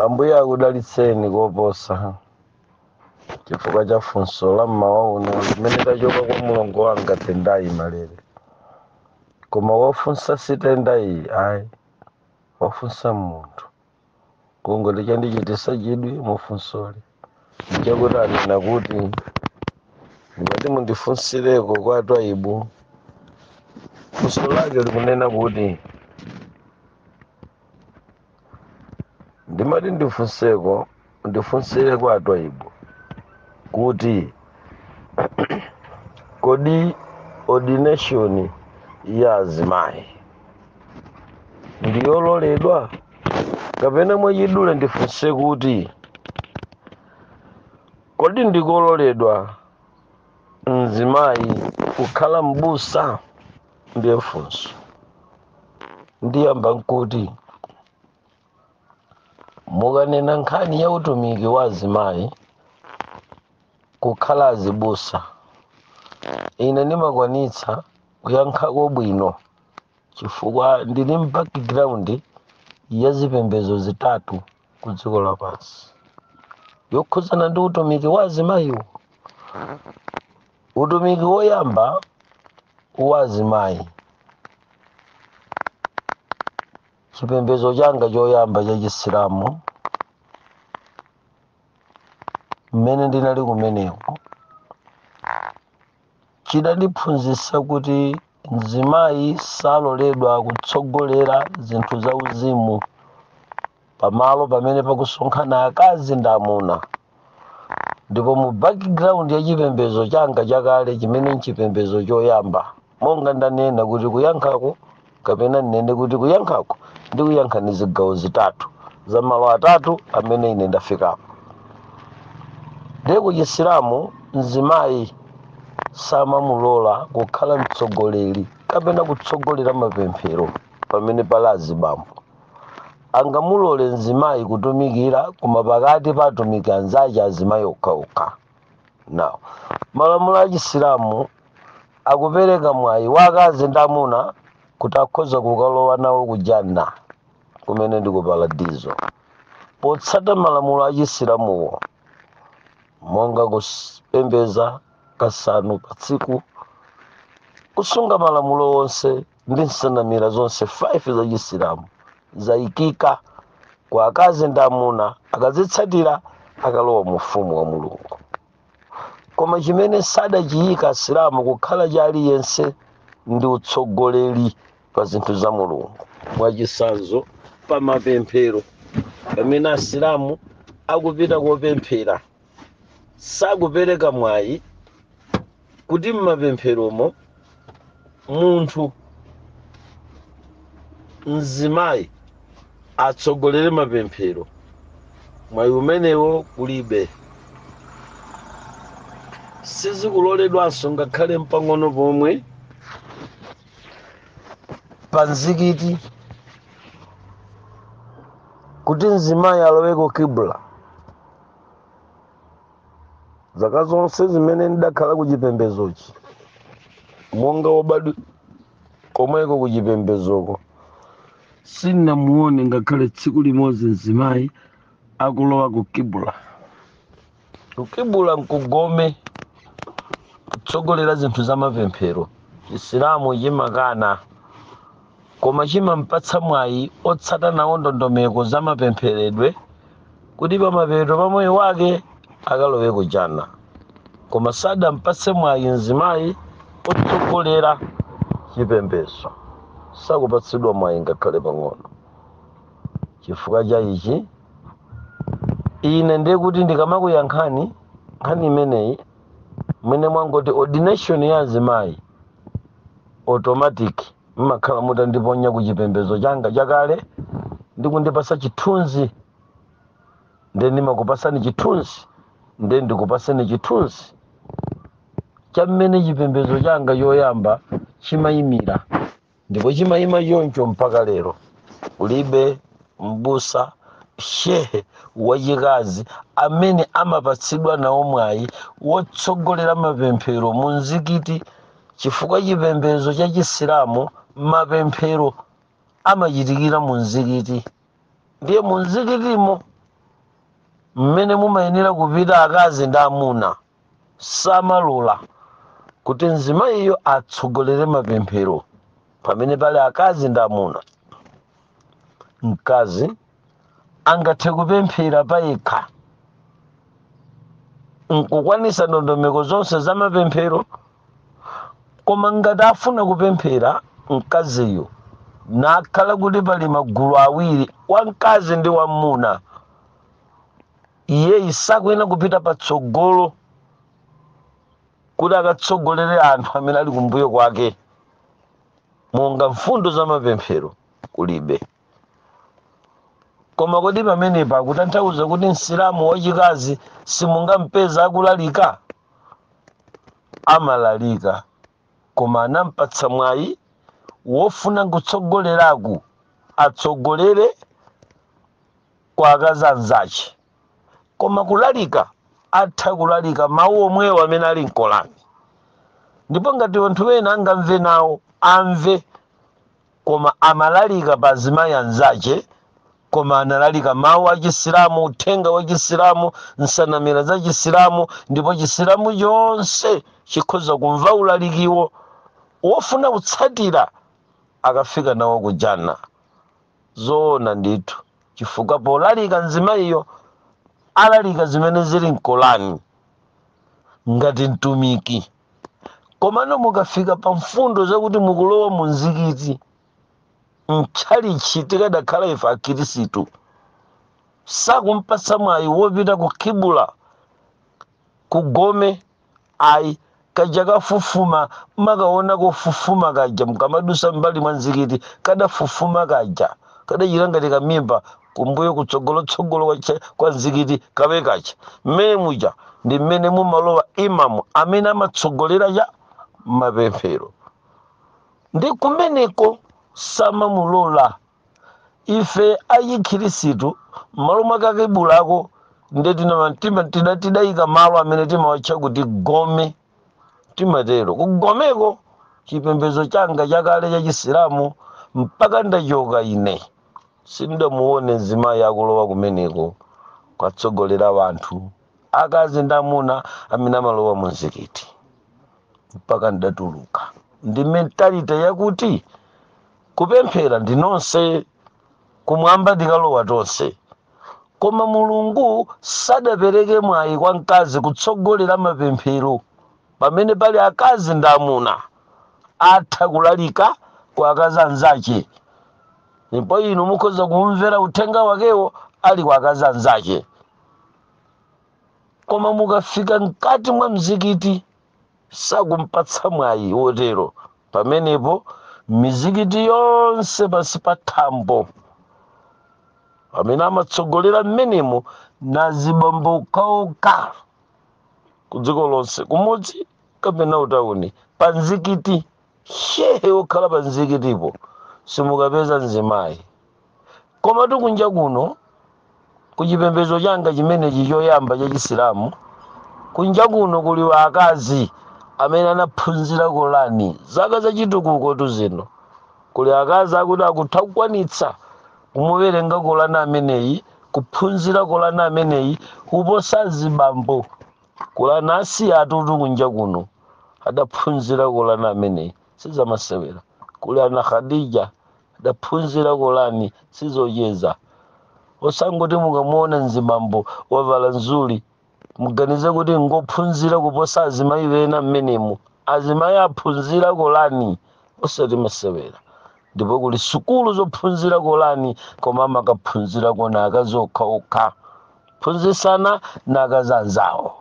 ambuye akudalitseni koposa chifukwa cha funso la mmawa uno limene lachoka kwa mulongo wanga tendayi malere koma wofunsa si tendayi ayi wofunsa munthu kungoti chandichitisa chidwi mufunsoli ndichakuti anena kuti ndimati mundifunsireko kwa twaibu funso lake likunena kuti ndimati ndifunseko mundifunsire kwa twaibu kuti kodi ordination ya azimayi ndiyololedwa kapena mwachidule ndifunse kuti kodi ndikololedwa mzimayi kukhala m'busa ndiye ifenso ndiyamba nkuti mukanena nkhani ya utumiki wa azimayi kukhala azibusa ine ndimakwanitsa kuyankhako bwino chifukwa ndili m'background ya zipembedzo zitatu ku dziko lapansi yokhudzana ndi utumiki wa azimayiwo utumiki woyamba wa azimayi chipembedzo changa choyamba cha chisilamu mmene ndinali kumeneko Chidandiphunzitsa kuti mzimayi saloledwa kutsogolera zinthu za uzimu pamalo pamene pakusonkhana akazi ndi amuna. Ndipo mu background ya chipembedzo changa chakale chimene nchipembedzo choyamba, monga ndanena kuti kuyankhako kapena ndinene kuti kuyankhako ndikuyankha ndi zigawo zitatu za malo atatu amene ine ndafikapo ndiye ku chisilamu mzimayi samamulola kukhala mtsogoleri kapena kutsogolera mapemphero pamene pali azibambo angamulole mzimayi kutumikira koma pakati pa atumiki anzace azimayi okhaokha now malamulo a chisilamu akupereka mwayi wa akazi ndi amuna kuti akhoza kukalowa nawo ku janna kumene ndi ku paradizo potsata malamulo a chisilamuwo monga kupembeza kasanu pa tsiku kusunga malamulo onse ndi nsanamira zonse 5 za chisilamu zayikika kwa akazi ndi amuna akazitsatira akalowa mu ufumu wa mulungu koma chimene sadachiyika asilamu kukhala cha aliyense ndi utsogoleri pa zinthu za mulungu mwachitsanzo pa mapemphero pamene asilamu akupita kopemphera sakupereka mwayi kuti m'mapempheromo munthu mzimayi atsogolere mapemphero mwayi umenewo kulibe sizikuloledwanso ngakhale mpang'ono pomwe pa mzikiti kuti mzimayi aloweko kibla zaka zonse zimene ndidakhala ku chipembedzochi monga wobadwa komweko ku chipembedzoko sindinamuone ngakhale tsiku limodzi mzimayi akulowa ku kibla ku kibla nkugome kutsogolera zinthu za mapemphero chisilamu chimakana koma chimampatsa mwayi otsata nawo ndondomeko za mapempheredwe kuti pamapeto pa moyo wake akalowe ku janna koma sadampatse mwayi mzimayi otsogolera chipembedzo sakupatsidwa mwayi ngakhale pang'ono chifukwa cha ichi ine ndiye kuti ndikamakuyankhani nkhani imeneyi mmene mwangoti ordination ya azimayi automatic mmakhala mutandiponya ku chipembedzo changa chakale ndi kundipasa chithunzi nde ndimakupasani chithunzi nde ndikupaseni chithunzi cha mmene chipembedzo changa choyamba chimayimira ndipo chimayima choncho mpaka lero kulibe m'busa, shehe wachikazi amene amapatsidwa nawo mwayi wotsogolera mapemphero mu mzikiti chifukwa chipembedzo cha chisilamu mapemphero amachitikira mu mzikiti ndiye mu mzikitimo mmene mumayenera kupita akazi ndi amuna samalola kuti mzimayiyo atsogolere mapemphero pamene pali akazi ndi amuna mkazi angathe kupemphera payekha nkukwanisa ndondomeko zonse za mapemphero koma ngati afuna kupemphera mkaziyo nakhala kuti pali magulu awiri wamkazi ndi wamuna iyeyu sakuyenera kupita patsogolo kuti akatsogolere anthu amene ali kumbuyo kwake monga mfundo za mapemphero kulibe koma kodi pamenepa akutanthauza kuti msilamu wachikazi simungampeza akulalika amalalika koma anampatsa mwayi wofuna kutsogoleraku atsogolere kwa akazi anzache koma kulalika atha kulalika mawu omwewo amene ali m'Korani ndipo ngati anthu ena angamve nawo amve koma amalalika pa azimayi anzache koma amalalika mawu a chisilamu uthenga wa chisilamu nsanamira za chisilamu ndipo chisilamu chonse chikhoza kumva ulalikiwo wofuna kutsatira akafika nawo kujana zoona ndithu chifukwa polalika mzimayiyo alalika zimene zili m'Korani ngati mtumiki komano mukafika pa mfundo zakuti mukulowa mu mzikiti mtchalitchi tikadakhala ife akhirisitu sakumpatsa mwayi wopita ku kibula ku gome Ayi, kaja kafufuma mmakaona kofufuma kaja mkamadusa mmbali mwa mzikiti kadafufuma kaja kadachita ngati kamimba kumbuyo kutsogolo tsogolo kwa, kwa mzikiti kawe kaja mmene muja ndi mmene mumalowa imam amene amatsogolera cha mapemphero ndi kumeneko samamulola ife achikhirisitu m'malo mwa kakibulako nde tina- tima- tina- tidayika malo amene timawatcha kuti gome timatero kugomeko chipembedzo changa chakale cha chisilamu mpaka ndachoka ine sindamuone mzimayi akulowa kumeneko kwatsogolera wanthu akazi ndi amuna amene amalowa mu mzikiti mpaka ndatuluka ndi mentality yakuti kupemphera ndi nonse kumwamba tikalowa tonse koma mulungu sadapereke mwayi kwa mkazi kutsogolera mapemphero pamene pali akazi ndi amuna atha kulalika kwa akazi anzache ndipo inu mukhoza kuwumvera uthenga wakewo ali kwa akazi anzache koma mukafika mkati mwa mzikiti sakumpatsa mwayi wotero pamenepo mizikiti yonse pansi pa thambo amene amatsogolera mmenemo n'azibambo okhaokha ku dziko lonse kumudzi kapena utauni pa mzikiti shehe okhala pa mzikitipo simukapeza mzimayi komatu kunja kuno ku chipembedzo changa chimenechi choyamba cha chisilamu kunja kuno kuli akazi amene anaphunzira kolani zaka zachitukuko tu zino kuli akazi akuti akutha kukwanitsa kumuwerenga kolani ameneyi kuphunzira kolani ameneyi kuposa zibambo kuli ana Asiyatutu kunja kuno adaphunzira kolani ameneyi sizamasewera kuli ana khadija adaphunzira kolani sizocheza osangoti mukamuona mzibambo wavala mzuli muganize kuti ngophunzira kuposa azimayi ena mmenemo azimayi aphunzira kolani osati masewera ndipo kuli sukulu zophunzira kolani koma amakaphunzira konko akazi okhaokha phunzisana na akazi anzawo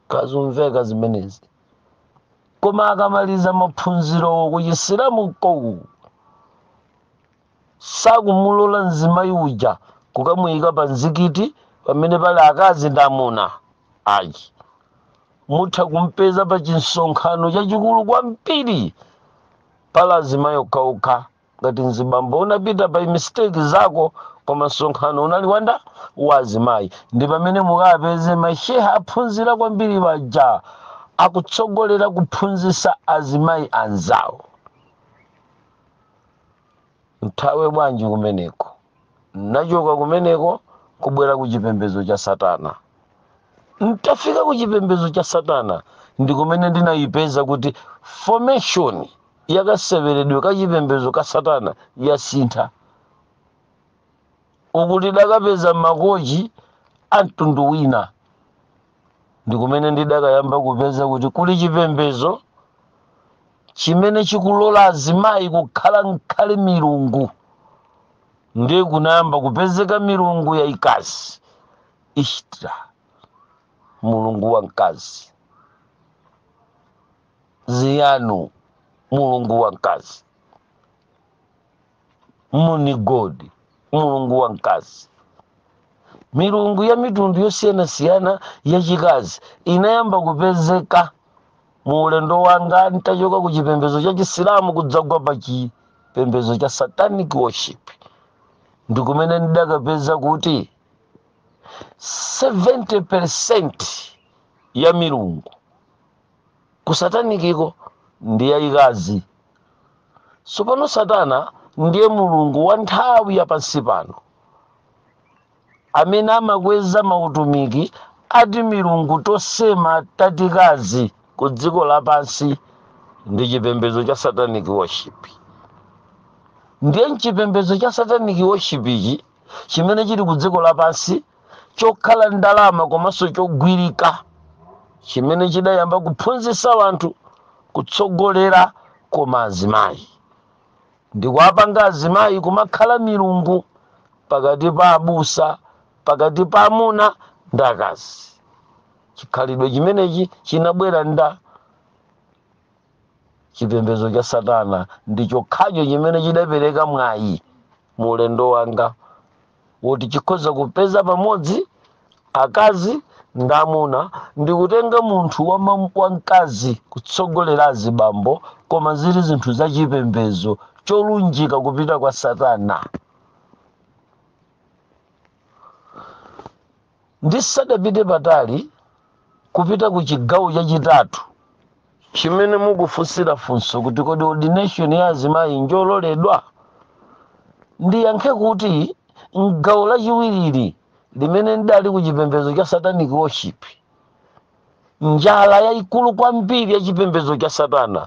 kazumveka zimenezi koma akamaliza maphunzirowo kuchisilamu uko sakumulola mzimayi uja kukamuyika pa mzikiti pamene pali akazi ndi amuna ayi mutha kumpeza pa chinsonkhano chachikulu kwambiri pali azimayi okhaokha ngati mzibambo unapita pa mistake zako koma msonkhano unali wa ndawa azimayi ndi pamene mukapeze mashehe aphunzira kwambiri aja akutsogolera kuphunzisa azimayi anzawo nthawe bwanji kumeneko nachoka kumeneko kubwera ku chipembedzo cha satana ntafika ku chipembedzo cha satana ndi kumene ndinayipeza kuti formation yakaseweredwe ka chipembedzo ka satana yasintha uku tidakapeza makochi a mtundu wina ndi kumene ndidakayamba kupeza kuti kuli chipembedzo chimene chikulola azimayi kukhala nkhale milungu ndiye kunayamba kupezeka milungu yayikazi ishtra mulungu wamkazi ziyanu mulungu wamkazi moon god mulungu wa mkazi milungu ya mitundu yosiyanasiyana yachikazi inayamba kupezeka mu ulendo wanga ntachoka ku chipembedzo cha chisilamu kudzagwa pa chipembedzo cha satanic worship ndikumene ndidakapeza kuti 70 percent ya milungu kusatanikiko ndi yayikazi tsopano satana ndiye mulungu wa nthawi ya pansi pano amene amakweza mautumiki a timilungu tosema tatikazi ku dziko lapansi ndi chipembedzo cha satanic worship ndiye mchipembedzo cha satanic worship ichi chimene chili ku dziko lapansi chokhala ndalama komanso chogwirika chimene chidayamba kuphunzitsa anthu kutsogolera koma azimayi ndikuwapanga azimayi kumakhala milungu pakati pa abusa pakati pa amuna ndi akazi chikhalidwe chimenechi chinabwera ndi chipembedzo cha satana ndi chokhacho chimene chidapereka mwayi mu ulendo wanga woti chikhoza kupeza pamodzi akazi ndi amuna ndi kutenga munthu wama- wamkazi kutsogolera azibambo koma zili zinthu za chipembedzo cholunjika kupita kwa satana Ndisadapite patali kupita ku chigawo chachitatu chimene mukufunsira funso kuti kodi ordination ya azimayi njololedwa? Ndiyankhe kuti m'gawo lachiwirili limene ndali ku chipembedzo cha satanic worship, Njala yayikulu kwambiri ya chipembedzo cha Satana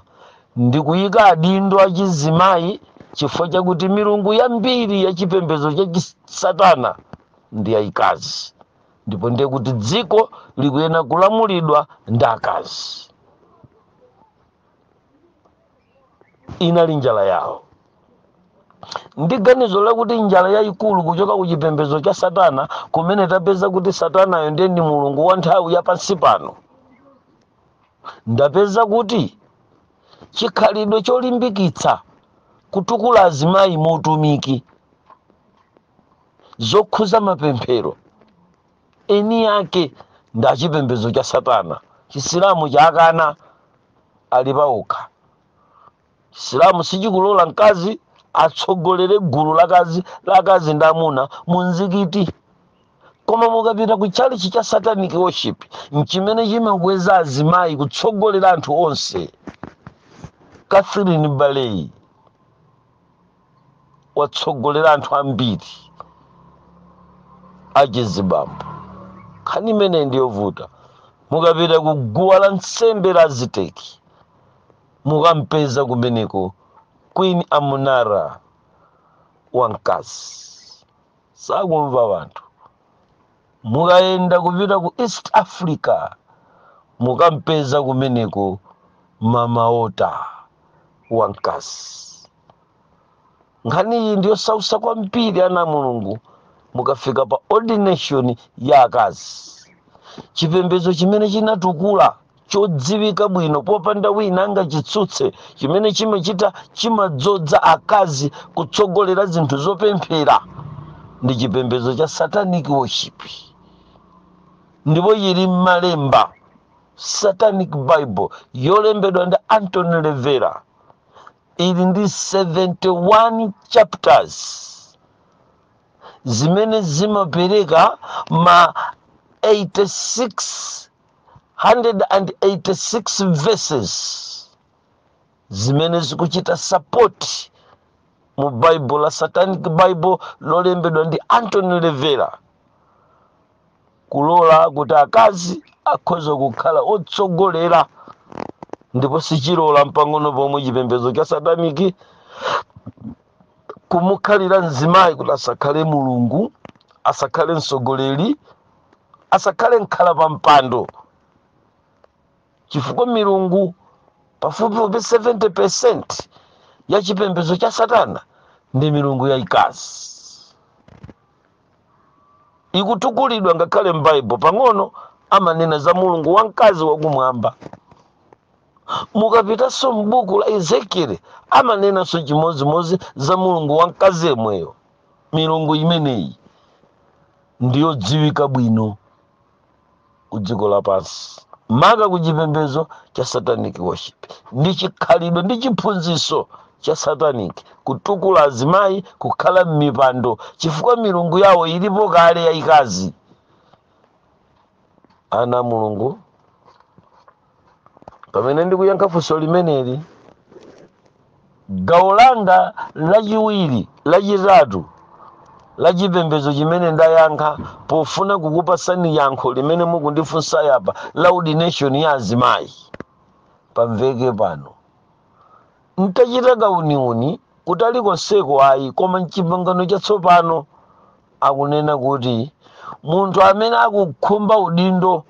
ndi kuyika adindo achizimayi chifukwa chakuti milungu yambiri ya chipembedzo cha Satana ndi yayikazi ndipo ndiye kuti dziko likuyena kulamulidwa ndi akazi. inali njala yawo ndi ganizo lakuti njala yayikulu kuchoka ku chipembedzo cha satana kumene tapeza kuti satanayo ndiye ndi mulungu wa nthawi ya pansi pano ndapeza kuti chikhalidwe cholimbikitsa kutukula azimayi mu utumiki zokhuza mapemphero eni ake ndi achipembedzo cha satana chisilamu chakana ali paokha chisilamu sichikulola mkazi atsogolere gulu la akazi la akazi ndi amuna mu mzikiti koma mukapita ku chalichi cha satanic worship nchimene chimakweza azimayi kutsogolera anthu onse catherine baleyi watsogolera anthu ambiri achizibambo nkhani imeneyi ndi yovuta mukapita ku guwa la nsembe la aziteki mukampeza kumeneko queen amunara wamkazi sakumva wanthu mukayenda kupita ku east africa mukampeza kumeneko mama ota wamkazi nkhani iyi ndi yosautsa kwambiri ana a mulungu mukafika pa ordination ya akazi chipembedzo chimene chinatukula chodziwika bwino popanda wina angachitsutse chimene chimachita chimadzodza akazi kutsogolera zinthu zopemphera ndi chipembedzo cha satanic worship ndipo yili m'malemba satanic bible yolembedwa ndi anton lavey ili ndi 71 chapters zimene zimapereka ma 86 186 verses zimene zikuchita support mu bible la satanic bible lolembedwa ndi anthony lavey kulola kuti akazi akhoza kukhala otsogolera ndipo sichilola mpang'ono pomwe chipembedzo cha sataniki kumukanira mzimayi kuti asakhale mulungu asakhale mtsogoleri asakhale mkhala pa mpando chifukwa milungu pafupifupi 70 percent ya chipembedzo cha satana ndi milungu yayikazi ikutukulidwa ngakhale m'baibulo pang'ono amanena za mulungu wamkazi wakumwamba mukapitanso m'buku la ezekieli amanenanso chimodzimodzi za mulungu wamkazi yemweyo milungu imeneyi ndi yodziwika bwino ku dziko lapansi maka ku chipembedzo cha satanic worship ndi chikhalidwe ndi chiphunzitso cha satanic kutukula azimayi kukhala m'mipando chifukwa milungu yawo ilipo kale yayikazi ana a mulungu pamene ndikuyankha funso limeneli gawo langa lachiwiri lachitatu la chipembedzo chimene ndayankha pofuna kukupasani yankho limene mukundifunsa yapa la ordination ya azimayi pamveke pano ndachita kauniuni kutali konseko ayi koma m'chipangano chatsopano akunena kuti munthu amene akukhumba udindo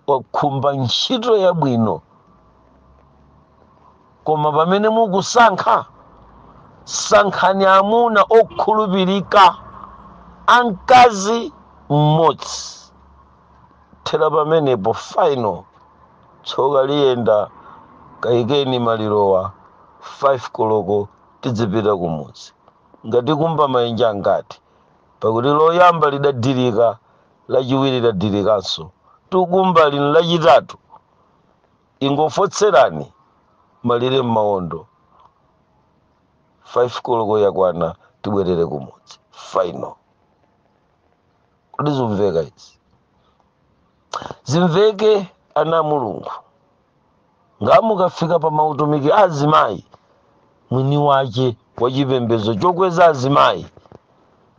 wakhumba ntchito yabwino koma pamene mukusankha sankhani amuna okhulupirika amkazi mmodzi thera pamenepo final tsoka liyenda kayikeni malirowa 5 koloko tidzipita kumudzi ngati kumba mayenje angati pakuti loyamba lidadirika lachiwiri ladirikanso tikumba lino lachitatu ingofotserani malire m'mawondo 5 koloko yakwana tibwerere kumudzi final kodi zimveka izi zimveke ana a mulungu ngamukafika pa mautumiki azimayi mwini wache wa chipembedzo chokweza azimayi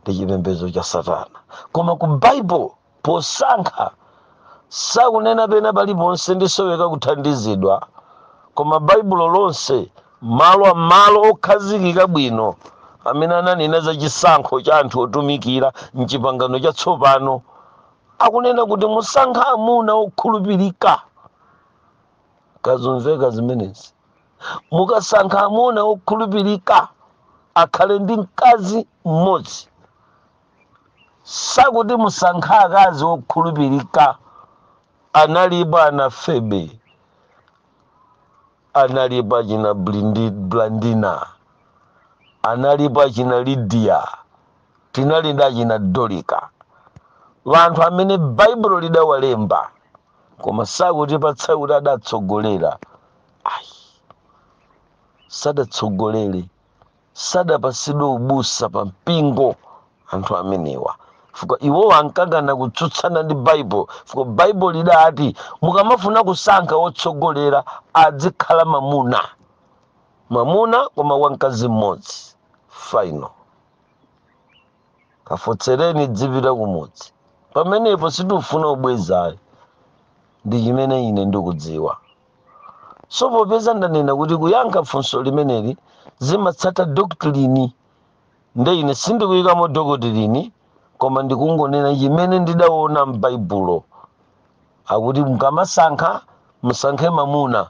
ndi chipembedzo cha satana koma ku baibulo posankha sakunena pena paliponse ndisoweka kuthandizidwa koma baibulo lonse malo malo okhazikika bwino amene ananena za chisankho cha anthu otumikira mchipangano chatsopano akunena kuti musankha amuna okhulupirika kazumveka zimenezi mukasankha amuna okhulupirika akhale ndi mkazi mmodzi sakuti musankha akazi okhulupirika analipo ana Febe analipo achina Blandina analipo achina Lidiya tinali ndi achina Dolika wanthu amene baibulo lidawalemba koma sakutipatsa kuti adatsogolera ayi sadatsogolere sadapasidwe ubusa pa mpingo anthu amenewa fuka iwowo ankakana kutsutsana ndi baibulo fuka baibulo lidati mukamafuna kusankha wotsogolera adzikhala mamuna mamuna koma wamkazi mmodzi final kafotsereni dzipita kumudzi pamenepo sitikufuna kubweza ayi ndi chimene ine ndikudziwa so popeza ndanena kuti kuyankha funso limeneli zimatsata doctrine nde ine sindikuyikamo doctrine koma ndikungonena chimene ndidaona m'baibulo akuti mukamasankha musankhe mamuna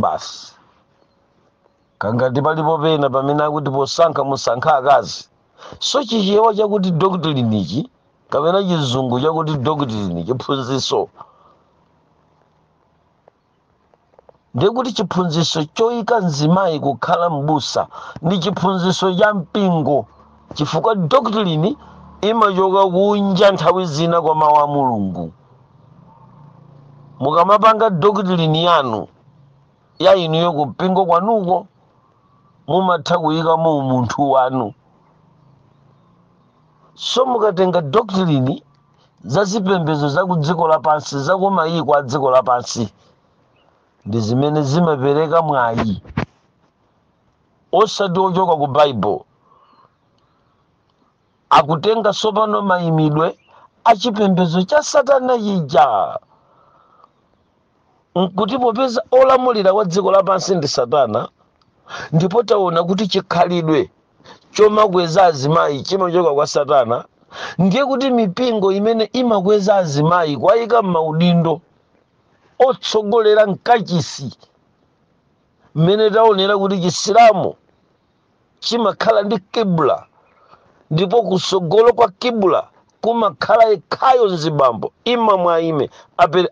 basi kangati palipo pena pamene akuti posankha musankha akazi so chichewa chakuti doctrine ichi kapena chizungu chakuti doctrine chiphunziso ndikuti chiphunziso choyika mzimayi kukhala m'busa ndi chiphunziso cha mpingo chifukwa doctrine imachoka kunja nthawi zina kwa mawu a mulungu mukamapanga doctrine yanu ya inuyo ku mpingo kwanuko mumatha kuyikamo umunthu wanu so mukatenga doctrine za zipembedzo za ku dziko lapansi za ku mayiko a dziko lapansi ndi zimene zimapereka mwayi osati ochoka ku baibulo Akutenga tsopano maimidwe a chipembedzo cha Satana chija, nkuti popeza olamulira wa dziko lapansi ndi Satana, ndipo taona kuti chikhalidwe chomakweza azimayi chimachoka kwa Satana, ndiye kuti mipingo imene imakweza azimayi kuwayika m'maudindo otsogolera mkachisi, mmene taonera kuti Chisilamu chimakhala ndi kibla ndipo kusogolo kwa kibla kumakhala yekhayo mzibambo imamu aime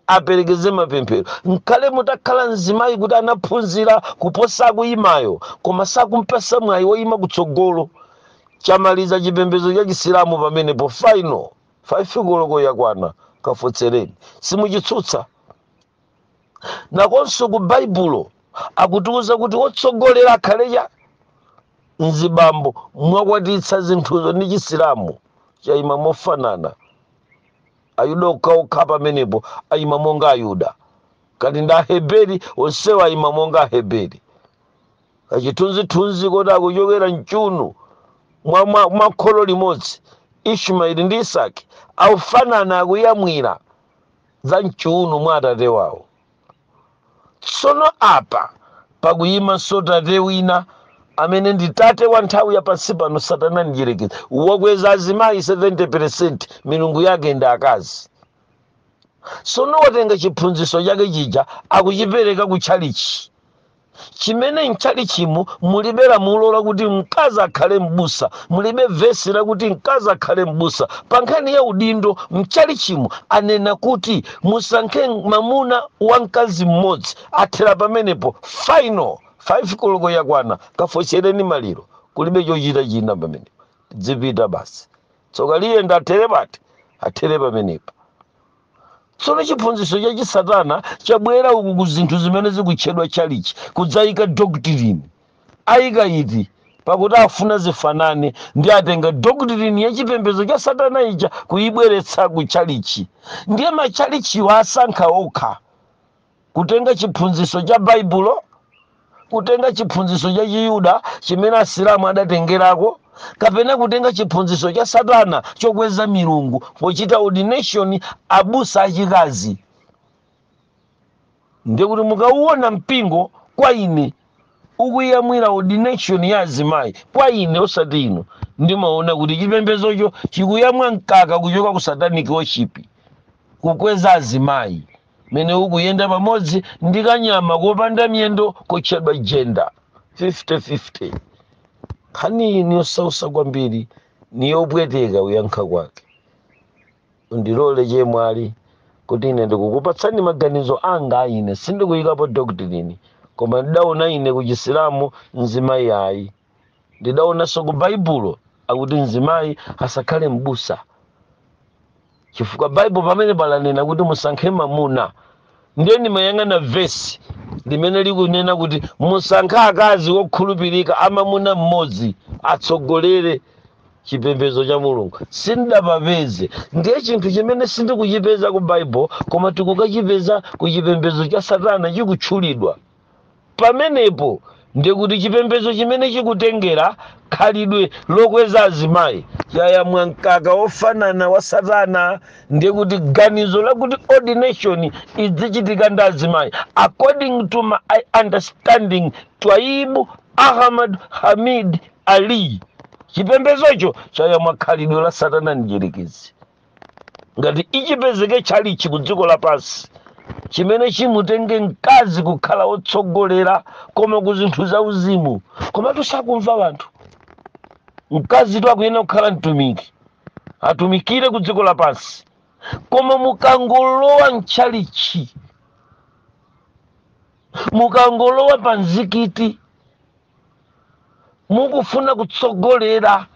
aperekeze mapemphero nkale mutakhala mzimayi kuti anaphunzira kuposa woyimayo koma sakumpasa mwayi woyima kutsogolo chamaliza chipembedzo cha chisilamu pamenepo final faifi koloko yakwana kafotsereni simuchitsutsa nakonso ku baibulo akutiuza kuti wotsogolera akhale mzibambo mwakwatitsa zinthuzo ndi chisilamu chayima mofanana ayuda okhaokha pamenepo ayima monga ayuda kati ndi aheberi onsewo ayima monga aheberi kachithunzithunzi koti akuchokera mchiuno mwa, mwa kholo limodzi ishmaeli ndi isaki akufanana akuyamwira za mchiuno mwa atate wawo tsono apa pakuyimanso tate wina amene ndi tate wa nthawi ya pansi pano satana mdyerekezi wakweza azimayi 70% milungu yake ndi akazi tsono watenga chiphunzitso chake chija akuchipereka ku tchalichi chimene mtchalichimu mulibe lamulo lakuti mkazi akhale m'busa mulibe vesi lakuti mkazi akhale m'busa pa nkhani ya udindo mtchalichimu anena kuti musankhe mamuna wa mkazi mmodzi athera pamenepo final 5 koloko yakwana kafotsereni maliro kulibe chochita china pamenepo dzipita basi tsoka liyenda athere pati athere pamenepo tsono chiphunzitso cha chisatana chabwera uku ku zinthu zimene zikutchedwa chalichi kudzayika doctrine ayika iti pakuti afuna zifanane ndi atenga doctrine ya chipembedzo cha satana ija kuyibweretsa ku chalichi ndiye machalichiwo asankha okha kutenga chiphunzitso cha baibulo kutenga chiphunzitso cha chiyuda chimene asilamu adatengerako kapena kutenga chiphunzitso cha satana chokweza milungu pochita ordination abusa achikazi ndiye kuti mukauona mpingo kwa ine ukuyamwira ordination ya azimayi kwa ine osati inu ndimaona kuti chipembedzocho chikuyamwa mkaka kuchoka ku satanic worship kukweza azimayi mmene ukuyenda pamodzi ndi kanyama kopanda miyendo kotchedwa jenda 50-50 nkhaniyi niyosausa kwambiri niyopweteka kuyankha kwake mundilole chemwali kuti ine ndikukupatsani maganizo anga ine sindikuyikapo doktrini koma ndidaona ine kuchisilamu mzimayi ayi ndidaonanso ku baibulo akuti mzimayi asakhale m'busa chifukwa baibulo pamene palanena kuti musankhe mamuna ndiye ndimayang'ana vesi limene likunena kuti musankhe akazi wokhulupirika amamuna mmodzi atsogolere chipembedzo cha mulungu sindidapapeze ndiye chinthu chimene sindikuchipeza ku baibulo koma tikukachipeza ku chipembedzo cha satana chikutchulidwa Pamenepo ndiye kuti chipembedzo chimene chikutengera khalidwe lokweza azimayi chayamwa mkaka wofanana wa Satana. Ndiye kuti ganizo lakuti ordination idzichitika ndi azimayi according to my understanding Twaibu Ahmad Hamid Ali, chipembedzocho chayamwa khalidwe la Satana Mdyerekezi. ngati ichipezeke tchalichi ku dziko lapansi chimene chimutenge mkazi kukhala wotsogolera koma ku zinthu za uzimu komatu sakumva wanthu mkazitu akuyenera kukhala mtumiki atumikire ku dziko lapansi koma mukangolowa mtchalichi mukangolowa pa mzikiti mukufuna kutsogolera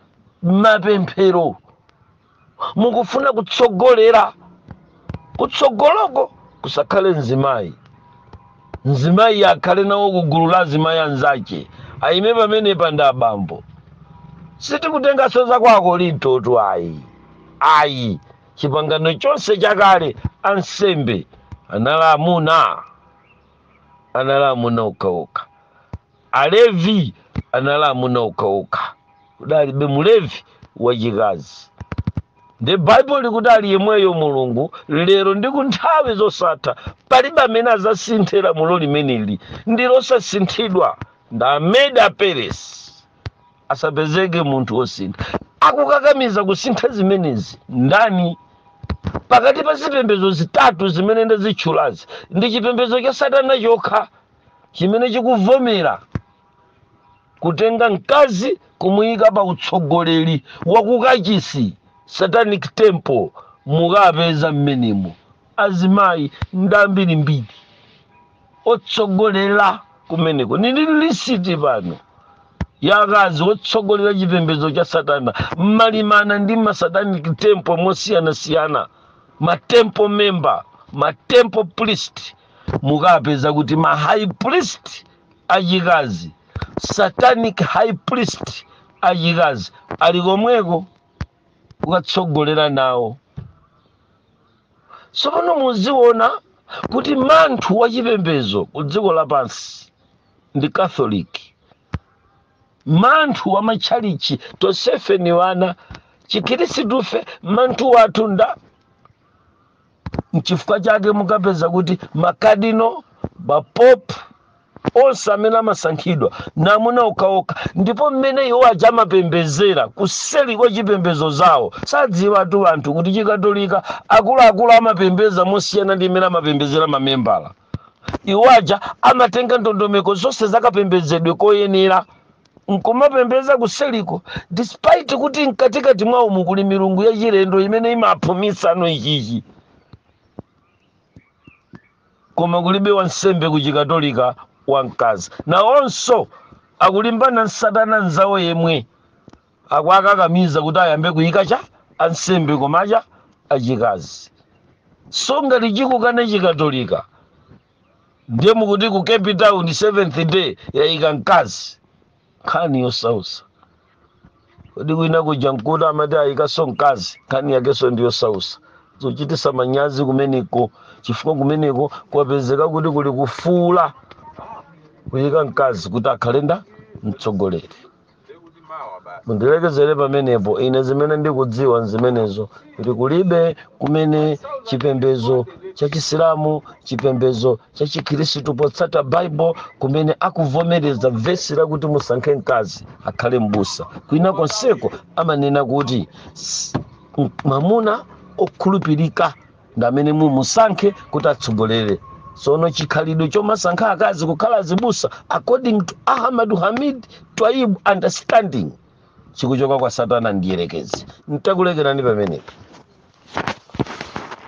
mapemphero mukufuna kutsogolera kutsogoloko kusakhale mzimayi mzimayi akhale nawo kugulu la azimayi anzace ayime pamenepa ndi abambo sitikutenganso za kwa akorintotu ayi ayi chipangano chonse chakale ansembe anali amuna anali amuna okhaokha alevi anali amuna okhaokha kudalibe mulevi wachikazi ndi baibulo likuti ali yemweyo mulungu lero ndi ku nthawi zosatha palibe amene azasinthe lamulo limeneli ndi losasinthidwa nda amedi aperesi asapezeke munthu wosintha akukakamiza kusintha zimenezi ndani pakati pa zipembedzo zitatu zimene ndazitchulazi ndi chipembedzo cha satana chokha chimene chikuvomera kutenga mkazi kumuyika pa utsogoleri wakukachisi satanic temple mukapeza mmenemo azimayi ndi ambirimbiri otsogolera kumeneko nili lisiti pano ya akazi otsogolera chipembedzo cha satana mmalimana ndi ma satanic temple mosiyanasiyana ma temple member ma temple priest mukapeza kuti ma high priest achikazi satanic high priest achikazi ali komweko kukatsogolera nawo tsopano muziona kuti manthu wa chipembedzo ku dziko lapansi ndi catholic manthu wa matchalichi tonsefe ni wana chikhirisitu fe manthu wathu nda nchifukwa chake mukapeza kuti makadino mapopu onse amene amasankhidwa na amuna okhaokha ndipo mmene iwo aja amapembezera kuseli kwa chipembezo zawo sadziwatu anthu kuti chikatolika akuluakulu amapembeza mosiyana ndi mmene amapembezera mamembala iwo aja amatenga ndondomeko zonse zakapembezedwe koyenera nkumapembeza kuseliko despite kuti mkatikati mwawomu kuli milungu yachilendo imene imaphumisanso ichichi koma kulibe wansembe ku chikatolika wamkazi nawonso akulimbana n'satana nzawo yemwe akuakakamiza kuti ayambe kuyika cha ansembe koma acha achikazi so ngati chikukana chikatolika ndiye mukuti ku cape town seventh day yayika mkazi nkhani yosausa kodi kwina kuja mkuti amati ayikaso mkazi nkhani yakeso ndi yosausa zochitisa manyazi kumeneko chifukwa kumeneko kwapezeka kuti kuli kufuna kuyika mkazi kuti akhale nda mtsogoleri mundilekezere pamenepo ine zimene ndikudziwa nzimenezo kuti kulibe kumene chipembezo cha chisilamu chipembezo chachikhristu potsata bible kumene akuvomereza vesi lakuti musankhe mkazi akhale m'busa kwina konseko amanena kuti s- m- mwamuna okhulupirika ndi amene mumusankhe kuti atsogolere sono chikhalidwe chomasankha akazi kukhala azibusa according to ahmad hamid twaib understanding chikuchoka kwa satana ndiyerekezi ntakulekerani pamenepo